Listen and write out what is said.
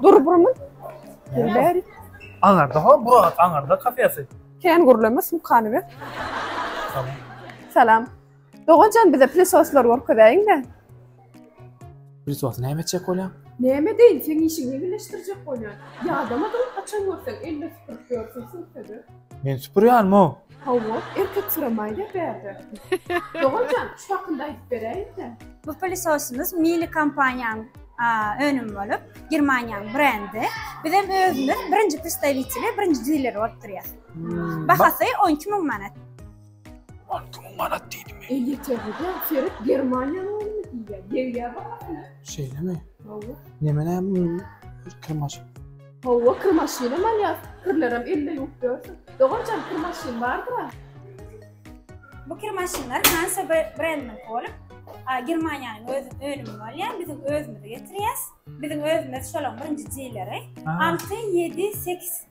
Dur burmy? Dur beri. Aňarda ha, bura aňarda kafesi. Ken gurlama sumkany ver. Salam. Salam. Doganjan bize plisoslar görkezäýiň-de. Biz wagty näme etjek bolýaň? Näme deýin, seň işiň ýeňilleşdirjek bolýan. Ýadamadyň, haçan görseň, elle süpürip ýörsüň, sürtede. Men süpürýänmi? Hawa, erkek süramaýda bärde. Dogan jan, şu hakynda aýdyp beräýiň-dä. Bu pilisosyňyz Miele kompaniýanyň önümi bolup, Germaniýanyň brendi. Bizem özümiz birinji predstawiteli, birinji dileri bolup durýas. Bahasy on iki müň manat. Altı mü manat diydi mi? E yeter hoca, seret Germaniýanyň ýolunu diýýär. Degýär bahasy. Şeýle mi? Hawa. Neme näme bu bir kyrmaşyk. Hawa, kir maşynam alýas. Kirlerem elde ýuwup ýörsün. Doganjan, kir maşyn bardyr-a. Bu kir maşynlar Hansa br- brendiniň bolup, a, Germaniýanyň öz önümi bolýar. Biziň özümizi getirýäs. Biziň özümiz şolaň birinji dileri. Ha. Altı, ýedi, sekiz.